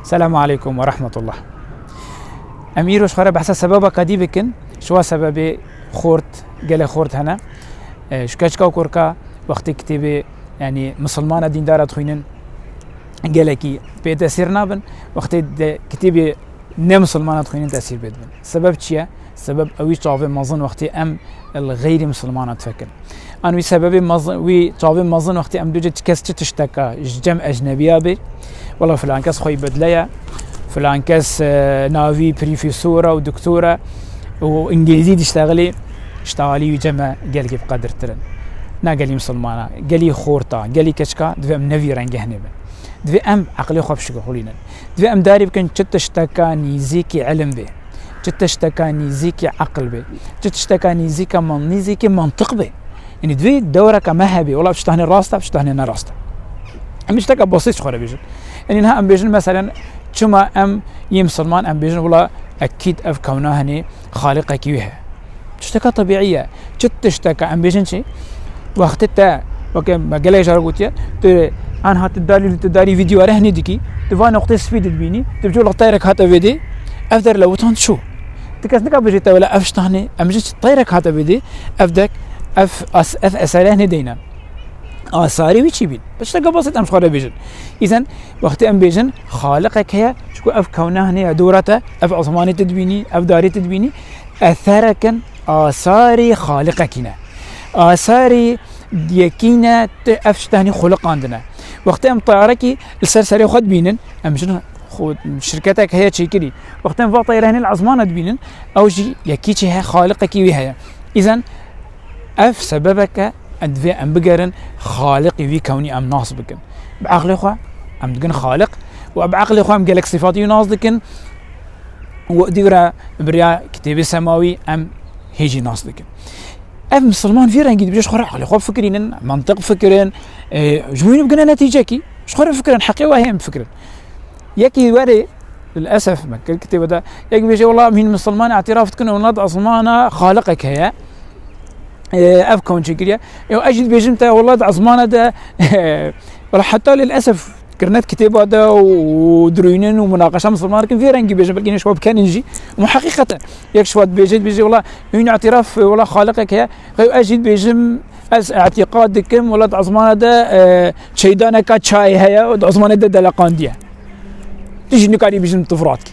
Selamu aleykum ve rahmetullah. Em îroj xwe re behsa sebeba qedî bikin. Şiwa sebebê xort, gele xort hene. Ji keçka korka wextê kitêbê yani musulmana dîndara dixwînin gelekî pê tesîr nabin. Wextê de kitêbê ne musulmana dixwînin tesîr pê dibin. Sebeb çi ye? Sebeb wî çavê mezin wextê em li xeyrî misilmanan difikin. An wî sebebê mezin wî çavê mezin wextê em dûcê çi kes çi tişteka ji cem ecnebiya bê. Wala filan kes xwe bedleye. Filan kes e, navî prîfîsora û doktora û îngilîzî diştegelê şta alî wî cem e gelkî bi qedirtirin. Na gelî misilmana, gelî xorta, gelî keçka divê em nevî rengeh nebin. Divê em eqilê xwe pişik xulînin. Divê em darî bikin çi tişteka nîzîkî elim bê. Çi tişteka nîzîkî eql bê, çi tişteka nîzîka man nîzîkî mantiq bê. Yanî divê dewreke me hebê, wela tiştanê rast e, tiştanê ne rast e. Em tişteke basît ji xwe re bêjin. Yanî niha em bêjin meselen çima em yê misilman em bêjin wela ekîd ev kewna hinê xaliqekî wê heye. Tişteke tebîî ye. Çi tişteke em bêjin çi? Wextê te weke me gelek jar gotiye tu anha tu darî tu darî vîdeo re hinî dikî tu van noqtê spî didbînî tu bi lextayrek hate vêdê ev der le witan çû. Ti kes nika bijî te wele ev ştanê em ji tayrek hate vêdê ev dek ev ev esere hinê deyne. Asarî wî çî bîn. Tişteke basit em xwe re bêjin. Îzen wextê em bêjin xaliqek heye çku ev kewne hinê ya dora te ev esmanî te dibînî ev darî te dibînî Eserek in asarî xaliqekî ne. Asarî yekî ne tu ev şita hinî xoliqandine. Wextê em tayarekî li ser serê xwe dibînin em jin şirketek heye çêkirî. Wextê em va tayare hinî li esmana dibînin ew jî yekî çê heye xaliqekî wî heye. Îzen ev sebebeke divê em bigerin xaliqî wî kewnî em nas bikin. Bi eqlê xwe em digin xaliq û bi eqlê xwe em gelek sîfatî nas dikin Wextî re bi riya kitêbê semawî em hê jî nas dikin. Ev misilman vî rengî dibêje xwe eqlê xwe fikirînin, mantiq fikirin, ji wî bigine netîcekî, ji xwe re fikirin, heqê we heye bifikirin. Yekî werê للاسف me kir kitêbe de yek bêje wela hîn misilman îtiraf dikin wela di esmana xaliqek heye. Ev konçekiriye. Ew ez jî dibêjim te wela di esmana de wela heta lilesef Kirnet kitêba de û dirûynin û munaqeşa misilman dikin vê rengî bêjin belkî şiva bikenin jî û heqîqet e yek şiva dibêje dibêje wala hûn îtiraf wala xaliqek heye xew ez jî dibêjim ez îtîqad dikim wala di ezmana de çeydaneka çayê heye û di ezmanê de deleqandiye tu jî nikarî bêjin tu firat kî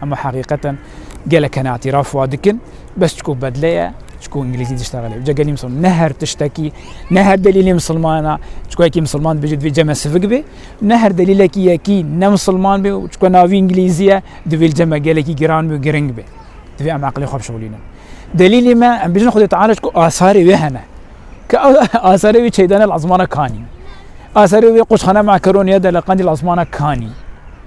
Hema heqîqeten gelek hene îtîraf wa dikin bes çiku bedle ye çiku îngilîzî diştexe lê. Ca gelî misilman ne her tiştekî ne her delîlê misilman e çiku yekî misilman dibêje divê cem e sivik bê ne her delîlekî yekî ne misilman bê û çiku navî îngilîzî ye divê cem e gelekî giran bê û giring bê. Divê em eqilê xwe bişewilînin. Delîlê me em bijin Xwedê Teala çiku asarê wê hene. Ke asarê wê çeydane li esmana kanî. Asarê wê qoçxana Makeroniye de li Qendîl esmana kanî.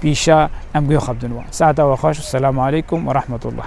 Pîşa em guya xwe bidin wan. Saeta we xweş. Selam aleykum werahmetullah.